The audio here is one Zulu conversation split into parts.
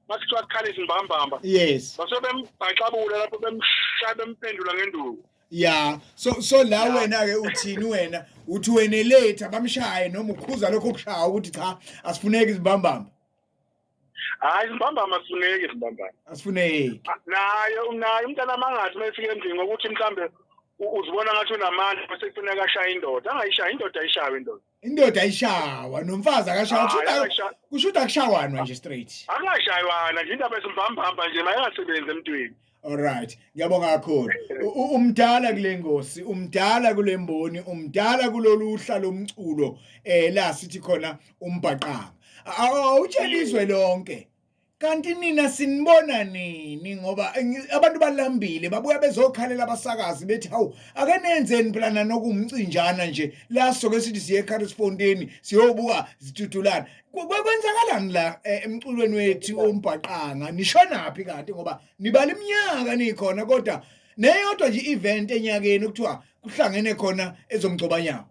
bakuthiwa akukhala izimbambamba yes base bembhaxabula lapho bemshaya bemphendula ngenduku ya so so la wena ke uthini wena uthi wena late abamshaye noma ukhuza lokho kushaya ukuthi cha asifuneki izimbambamba hayi izimbambama asifuneki izimbambama asifuneki naye naye umntana amangathi uma efika endlini ngokuthi mhlambe uzibona ngathi unamandla bese kufuneka ashaya indoda angayishaya indoda ayishayo indoda indoda ishawa nomfazi akashawa kushuda kushuda kushawanwa nje straight akashaywana nje indaba esimbambamba nje mayengasebenzi emntwini Alright, ngiyabonga kakhulu. Umdala kule ngosi, umdala kule mboni, umdala kulolu hla lomculo eh la sithi khona umbhaqanga. Awutshelizwe lonke. kanti nina sinibona nini ngoba abantu balambile babuya bezokhalela abasakazi bethi hawu ake nenzeni phela nanokumcinjana nje la soke sithi siye eCarlsfontein siyobuka zitutulana kwenzakalani la e, emculweni wethu ombhaqanga nishonaphi kanti ngoba nibala iminyaka nikhona kodwa neyodwa nje event enyakeni kuthiwa kuhlangene khona ezomgcobanyana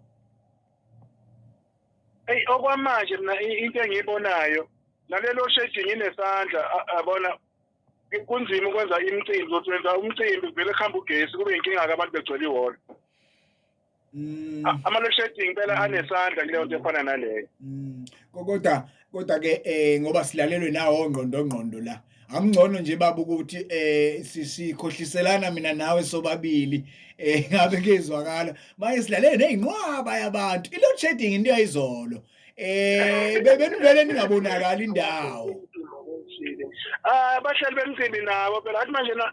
eyi okwamanje mina into engiyibonayo nalelo shedi nginesandla abona kunzima ukwenza imicimbi ukuthi wenza umcimbi vele kuhamba ugesi kube inkinga-ke abantu begcwele ihholo mm. ama-load shedding impela mm. anesandla kuleyo nto efana naleyo mm. kodwa kodwa ke eh ngoba silalelwe nawo ngqondo ngqondo la angcono nje baba ukuthi eh sikhohliselana mina nawe sobabili eh ngabe kezwakala manje silalele nezinqwaba yabantu i load shedding into yayizolo eh bebenivele ningabonakala indawo ah bahlali bemcimbi nabo phela athi manje na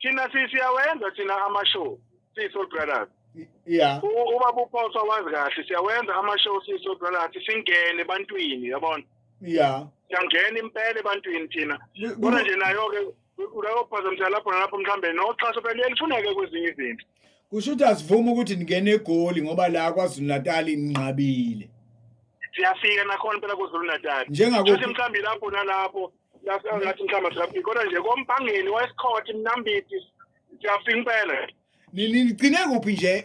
thina si- siyawenza thina ama-show siyi-soul brothers ya U- ubaba uphoswa wazi kahle siyawenza ama-show siyi-soul brothers singene ebantwini yabona ya siyangena impela ebantwini thina Ku- kodwa ku- nje nayo-ke uyayophazamisela lapho nalapho mhlawumbe noxhaso phela liyalufuneke kwezinye izinto kusho ukuthi asivumi ukuthi ningene egoli ngoba la kwazulu-natali ninqabile siyafika nakhona impela kwazulu-natali Njengako- futhi mhlawumbe lapho nalapho ngathi mhlawumbe traffic kodwa nje kompangeni wesikhotha imnambiti siyafika impela nigcine kuphi nje